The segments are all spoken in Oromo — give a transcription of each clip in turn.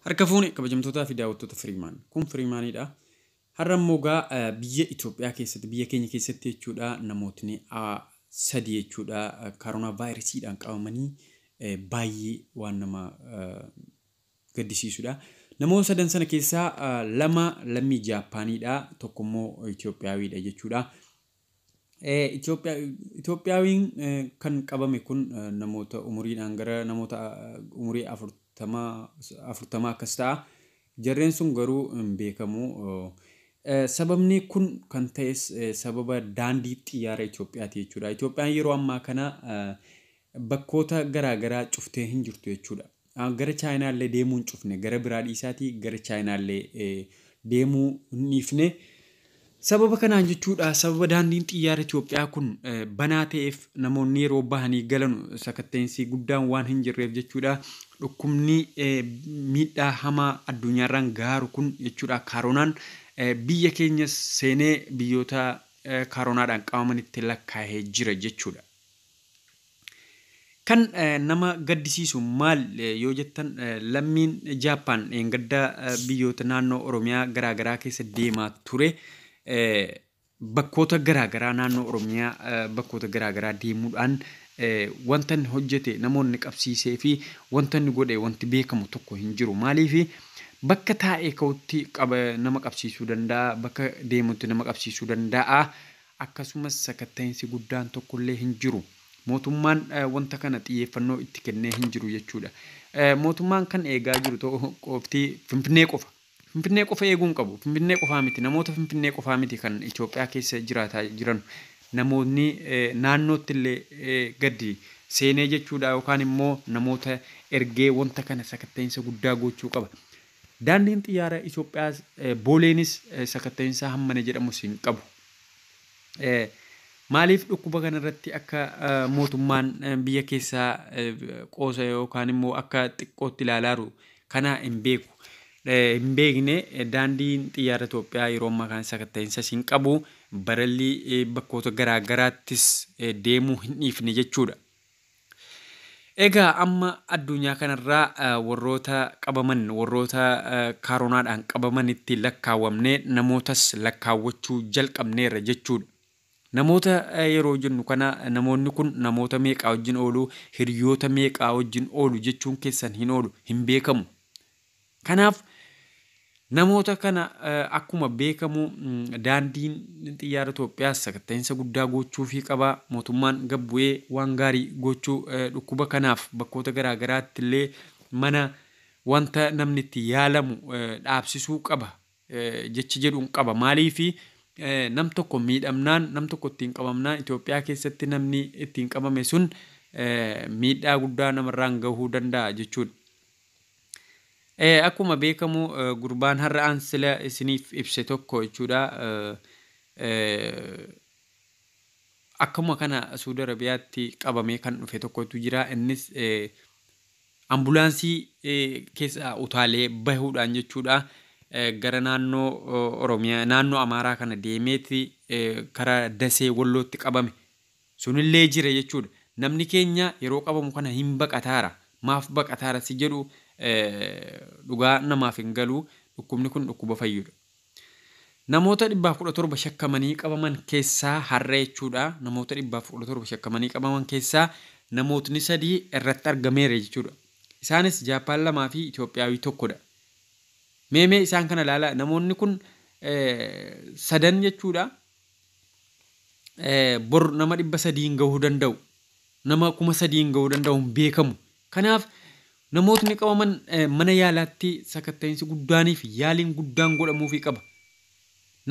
Harka fuune kabajamtootaa fi daawwattoota Firiimaan. Kun Firiimaanidha. Har'a immoo egaa eh, biyya Itoophiyaa keessatti, biyya keenya keessatti jechuudha namootni ah, sadii jechuudha eh, kaaroonaa vaayirasiidhaan qabamanii eh, baay'ee waan nama eh, gaddisiisudha. Namoota sadan sana keessaa lama lammii Jaappaaniidha, tokko immoo Itoophiyaawiidha jechuudha. Itoophiyaawiin kan qabame kun namoota umuriidhaan gara namoota umurii afurtamaa akkas ta'a. Jarreen sun garuu hin beekamu. Sababni kun kan ta'es sababa daandii xiyyaara Itoophiyaati jechuudha. Itoophiyaan yeroo ammaa kana bakkoota garaagaraa cuftee hin jirtu jechuudha. Gara Chaayinaa illee deemuu hin cufne. Gara biraa dhiisaatii gara Chaayinaa illee deemuu hin dhiifne. Sababa kanaan jechuudha sababa daandiin xiyyaara Itoophiyaa kun banaa ta'eef namoonni yeroo bahanii galanu sakatta'insi guddaan waan hin jirreef jechuudha dhukkubni miidhaa hamaa addunyaarraan gaaru kun jechuudha kaaroonaan biyya keenya seenee biyyoota kaaroonaadhaan qabamanitti lakkaa'ee jira jechuudha. Kan nama gaddisiisu maal yoo jettan lammiin Jaappaan dheengadda biyyoota naannoo Oromiyaa garaagaraa keessa deemaa ture bakkoota garaagaraa naannoo Oromiyaa bakkoota garaagaraa deemuudhaan wanta inni hojjete namoonni qabsiisee fi wanta inni godhe wanti beekamu tokko hin jiru. Maaliif bakka taa'ee ka'utti nama qabsiisuu danda'a bakka deemutti nama qabsiisuu danda'a. Akkasumas sakatta'insi guddaan tokkollee hin jiru. Mootummaan wanta kana xiyyeeffannoo itti kennee hin jiru jechuudha. Mootummaan kan eegaa jiru ta'u qofti Finfinnee qofa. Finfinnee qofa eeguu hin qabu. Finfinnee qofaa miti. Namoota Finfinnee qofaa miti kan Itoophiyaa keessa jiraataa jiran. Namoonni naannootti illee gadi seenee jechuudha yookaan immoo namoota ergee wanta kana sakatta'insa guddaa gochuu qaba. Daandiin Xiyyaara Itoophiyaa Booleenis sakatta'iinsa hammana jedhamus hin qabu. Maaliif dhukkuba kana irratti akka mootummaan biyya keessaa qoosa yookaan immoo akka xiqqootti ilaalaaru kana hin beeku. Hin beekne daandiin xiyyaara Itoophiyaa yeroo ammaa kana sakatta'iinsas hin qabu. Barallii bakkoota garaa garaattis deemuu hin dhiifne jechuudha. Egaa amma addunyaa kanarraa warroota qabaman warroota kaaronaadhaan qabamanitti lakkaawamnee namootas lakkaawwachuu jalqabneerra jechuudha. Namoota yeroo jennu kana namoonni kun namoota meeqaa wajjin oolu, hiriyoota meeqaa wajjin oolu jechuun keessan hin oolu, hin beekamu. Kanaaf namoota kana akkuma beekamu daandiin xiyyaara Itoophiyaas sakatta'insa guddaa gochuufii qaba. Mootummaan gad bu'ee waan gaarii gochuu dhukkuba kanaaf bakkoota garaa garaatti illee mana wanta namni itti yaalamu dhaabsisuu qaba jecha jedhuun qaba. Maaliifi nam tokko miidhamnaan nam tokko ittiin qabamnaan Itoophiyaa keessatti namni ittiin qabame sun miidhaa guddaa namarraan gahuu danda'a jechuudha. Eh, akkuma beekamu eh, gurbaan har'aan sila isiniif ibse tokko jechuudha. Eh, eh, akkuma kana Suudi Arabiyaatti qabamee kan dhufe tokkotu jira. Innis eh, ambulaansii eh, keessa utaalee bahuudhaan jechuudha. Eh, gara naannoo eh, Oromiyaa, naannoo Amaaraa kana deemeeti eh, karaa Dasee Wallootti qabame. Sunillee jira jechuudha. Namni keenya yeroo qabamu kana hin baqataara, maaf baqataara si jedhu dhugaa namaaf hin galu. Dhukkubni kun dhukkuba fayyudha. Namoota 117 shakkamanii qabaman keessaa har'a jechuudha, namoota 117 shakkamanii qabaman keessaa namootni sadii irratti argameera jechuudha. Isaanis Jaappaan lamaa fi Itoophiyaawii tokkodha. Mee mee isaan kana ilaalaa, namoonni kun sadan jechuudha bor nama dhibba sadii hin gahuu danda'u nama kuma sadii hin gahuu danda'u hin beekamu kanaaf namootni qabaman mana yaalaatti sakatta'iinsi guddaaniif yaaliin guddaan godhamuufii qaba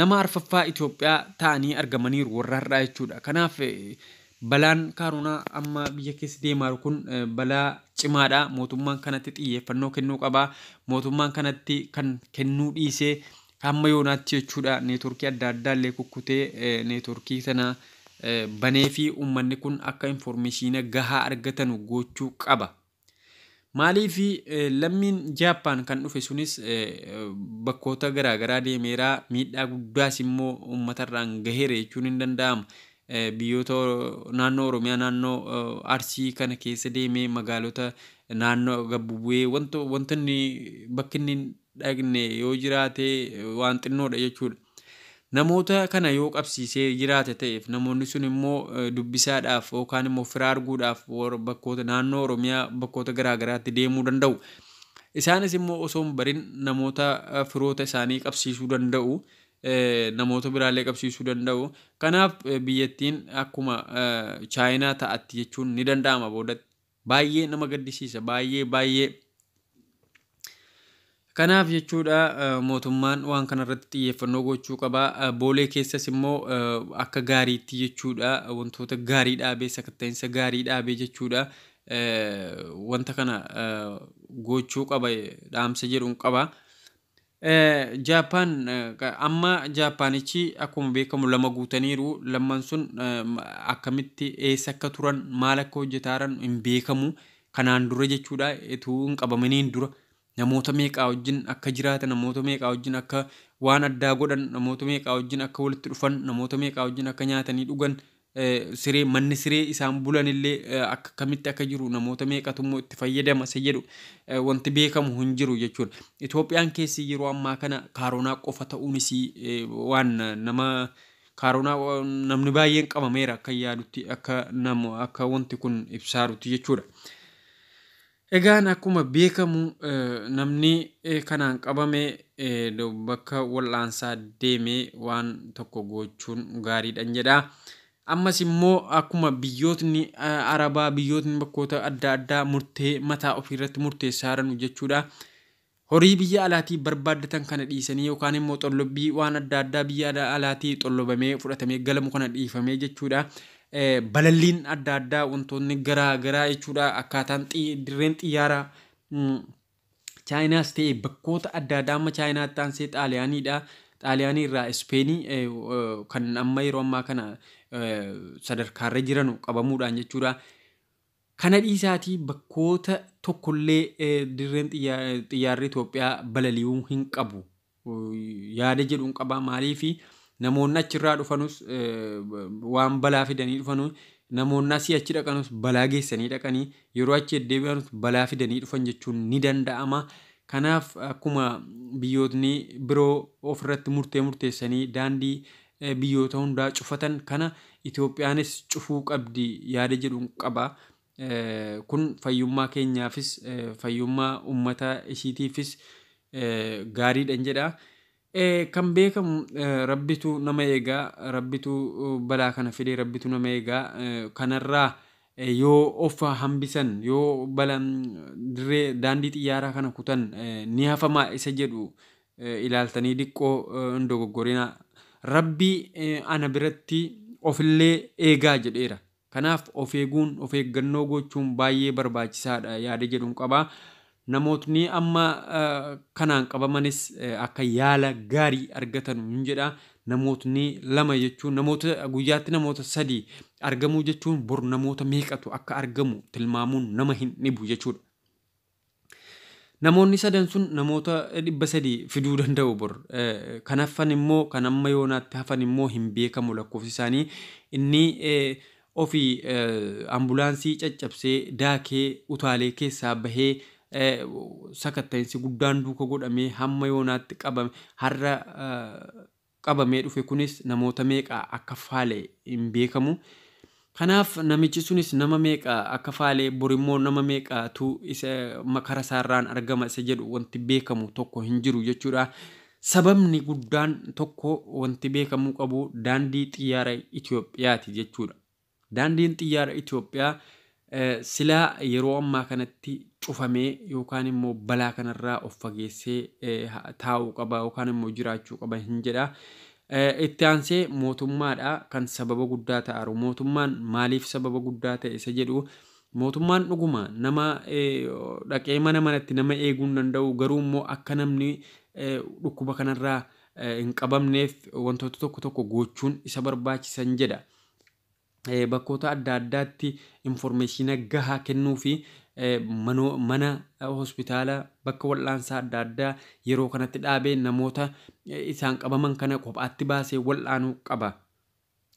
nama arfaffaa Itoophiyaa ta'anii argamaniiru warra har'aa jechuudha kanaaf balaan kaaroonaa amma biyya keessa deemaa jiru kun balaa cimaadha mootummaan kanatti xiyyeeffannoo kennuu qaba mootummaan kanatti kan kennuu dhiisee Hamma yoonaatti jechuudha networkii adda addaa illee kukkutee networkii kana baneefi ummanni kun akka informeeshiina gahaa argatanu goochuu qaba. Maaliif lammiin Jaappaan kan dhufe sunis bakkoota garaagaraa deemeera miidhaa guddaas immoo ummatarraan gaheera jechuun hin danda'amu. Biyyoota naannoo Oromiyaa naannoo Arsii kana keessa deemee magaalota naannoo gabbu bu'ee wanta wanta inni bakki inni hin dhaqne yoo jiraate waan xinnoodha jechuudha. Namoota kana yoo qabsiisee jiraate ta'eef namoonni sun immoo dubbisaadhaaf yookaan immoo fira arguudhaaf bakkoota naannoo Oromiyaa bakkoota garaa garaatti deemuu danda'u. Isaanis immoo osoo hin barin namoota firoota isaanii qabsiisuu danda'u. namoota biraallee qabsiisuu danda'u. Kanaaf biyyattiin akkuma Chaayinaa ta'atti jechuun ni danda'ama boodatti. Baay'ee nama gaddisiisa. Baay'ee baay'ee. Kanaaf jechuudha mootummaan waan kanarratti xiyyeeffannoo gochuu qaba. Boolee keessas immoo akka gaariitti jechuudha wantoota gaarii dhaabee sakatta'insa gaarii dhaabee jechuudha wanta kana gochuu qaba dhaamsa jedhuun qaba. Jaappaan amma Jaappaanichi akkuma beekamu lama guutaniiru. Lamman sun akkamitti eessa akka turan maal akka hojjetaaran hin beekamu. Kanaan dura jechuudha utuu hin qabamaniin dura namoota meeqaa wajjin akka jiraatan namoota meeqaa wajjin akka waan addaa godhan namoota meeqaa wajjin akka walitti dhufan namoota meeqaa wajjin akka nyaatanii dhugan siree manni siree isaan bulanillee akka akkamitti akka jiru namoota meeqatu immoo itti fayyadama isa jedhu wanti beekamu hin jiru jechuudha. Itoophiyaan keessi yeroo ammaa kana kaaroonaa qofa ta'uun isii waan nama kaaroonaa namni baay'een qabameera akka yaadutti akka namu akka wanti kun ibsaarutti jechuudha. Egaan akkuma beekamu namni kanaan qabame bakka wal'aansaa deemee waan tokko gochuun gaariidhan jedha. Ammas immoo akkuma biyyootni Arabaa biyyootni bakkoota adda addaa murtee mataa ofiirratti murteessaa jiranu jechuudha. Horii biyya alaatii barbaaddatan kana dhiisanii yookaan immoo xollobbii waan adda addaa biyya alaatii xollobamee fudhatamee galamu kana dhiifamee jechuudha. Balalliin adda addaa wantoonni garaa garaa jechuudha akkaataan dirreen xiyyaara chaayinaas ta'e bakkoota adda addaa amma chaayinaatti aansee xaaliyaaniidha. Xaaliyaanii irraa Ispeenii kan amma yeroo ammaa kana sadarkaarra jiranu qabamuudhaan jechuudha. Kana dhiisaatii bakkoota tokkollee dirreen xiyyaarri Itoophiyaa balali'uu hin qabu yaada jedhun qaba. Maaliif namoonni achirraa dhufanus waan balaa fidanii dhufanu namoonni asii achi dhaqanus balaa geessanii dhaqanii yeroo achi deddeebi'anus balaa fidanii dhufan jechuun ni danda'ama. Kanaaf akkuma biyyootni biroo ofirratti murtee murteessanii daandii biyyoota hundaa cufatan kana Itoophiyaanis cufuu qabdi yaada jedhun qaba. Kun fayyummaa keenyaafis fayyummaa ummata ishiitiifis gaariidhan jedha. Kan beekamu rabbitu nama eega, rabbitu balaa kana fide, rabbitu nama eega. Kanarraa yoo of hambisan, yoo bala dirree daandii xiyyaaraa kana kutan ni hafama isa jedhu ilaaltanii diqqoo hin dogoggorinaa. Rabbi ana biratti ofillee eegaa jedheera. Kanaaf of eeguun, of eeggannoo gochuun baay'ee barbaachisaadha yaada jedhun qaba. Namootni amma kanaan qabamanis akka yaala gaarii argatanu hin jedha. Namootni lama jechuun namoota guyyaatti namoota sadii argamuu jechuun bor namoota meeqatu akka argamu tilmaamuun nama hin dhibu jechuudha. Namoonni sadan sun namoota 300 fiduu danda'u bor. Kan hafan immoo kan amma yoonaatti hafan immoo hin beekamu lakkoofsi isaanii. Inni ofii ambulaansii caccabsee daakee utaalee keessaa bahee sakatta'insi guddaan duuka godhamee hamma yoonaatti qabame har'a qabamee dhufe kunis namoota meeqa akka faale hin beekamu. Kanaaf namichi sunis nama meeqa akka faale borimmoo nama meeqatu isa makara isaarraan argama isa jedhu wanti beekamu tokko hin jiru jechuudha. Sababni guddaan tokko wanti beekamuu qabu daandii xiyyaara Itoophiyaati jechuudha. Daandiin xiyyaara Itoophiyaa silaa yeroo ammaa kanatti cufamee yookaan immoo balaa kanarraa of fageessee taa'uu qaba yookaan immoo jiraachuu qaba hin jedha. Itti aansee mootummaadha kan sababa guddaa ta'aru. Mootummaan maaliif sababa guddaa ta'e isa jedhu mootummaan dhuguma nama dhaqee mana manatti nama eeguu hin danda'u garuu immoo akka namni dhukkuba kanarraa hin qabamneef wantoota tokko tokko gochuun isa barbaachisan jedha. bakkoota adda addaatti informeeshiina gahaa kennuu fi manoo mana hospitaala bakka wal'aansaa adda addaa yeroo kanatti dhaabee namoota isaan qabaman kana kophaatti baasee wal'aanuu qaba.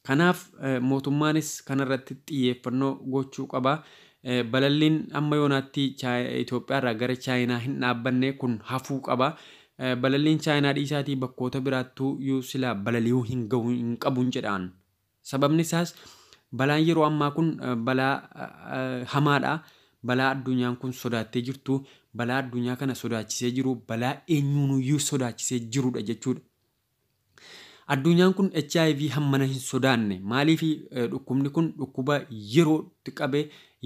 Kanaaf mootummaanis kanarratti xiyyeeffannoo gochuu qaba. Balalliin amma yoonaatti Itoophiyaarraa gara Chaayinaa hin dhaabbanne kun hafuu qaba. Balalliin Chaayinaa dhiisaatii bakkoota biraattuuyyuu silaa balali'uu hin gahu hin qabun jedhaan. Sababni isaas balaan yeroo ammaa kun balaa hamaadha. Balaa addunyaan kun sodaattee jirtu, balaa addunyaa kana sodaachisee jiru, balaa eenyuunuyyuu sodaachisee jirudha jechuudha. Adduunyaan kun hiv hammana hin sodaanne. Maaliif dhukkubni kun dhukkuba yerootti qabe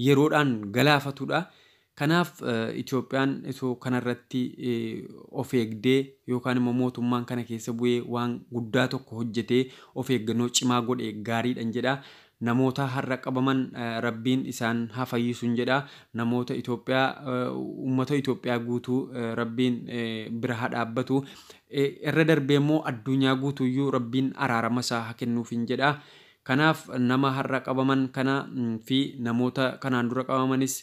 yeroodhaan galaafatudha. Kanaaf Itoophiyaan osoo kanarratti of eegdee yookaan immoo mootummaan kana keessa bu'ee waan guddaa tokko hojjetee of eeggannoo cimaa godhe gaariidhan jedha. Namootaa har'a qabaman rabbiin isaan ha fayyisun jedha namoota Ethiopia ummata Ethiopia guutuu rabbiin bira ha dhaabbatu erra darbee immoo adduunyaa guutuuyyuu rabbiin araarama isaa ha kennuufin jedha kanaaf nama har'a qabaman kana fi namoota kanaan dura qabamanis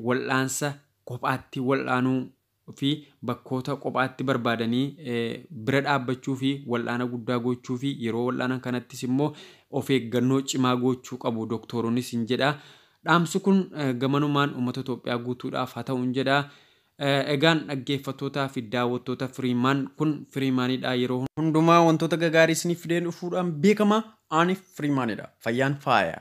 wal'aansa kophaatti wal'aanuu fi bakkoota qophaatti barbaadanii bira dhaabbachuu fi wal'aana guddaa gochuu fi yeroo wal'aanan kanattis immoo of eeggannoo cimaa goochuu qabu doktooronisn jedha. Dhaamsi kun gamanumaan uummata Itoophiyaa guutuudhaaf haa ta'un jedha. Egaan dhaggeeffattootaa fi daawwattoota Firiimaan kun Firiimaanidha yeroo hundumaa wantoota gagaarii isiniif fidee dhufuudhaan beekama. Ani Firiimaanidha. Fayyaan faaya.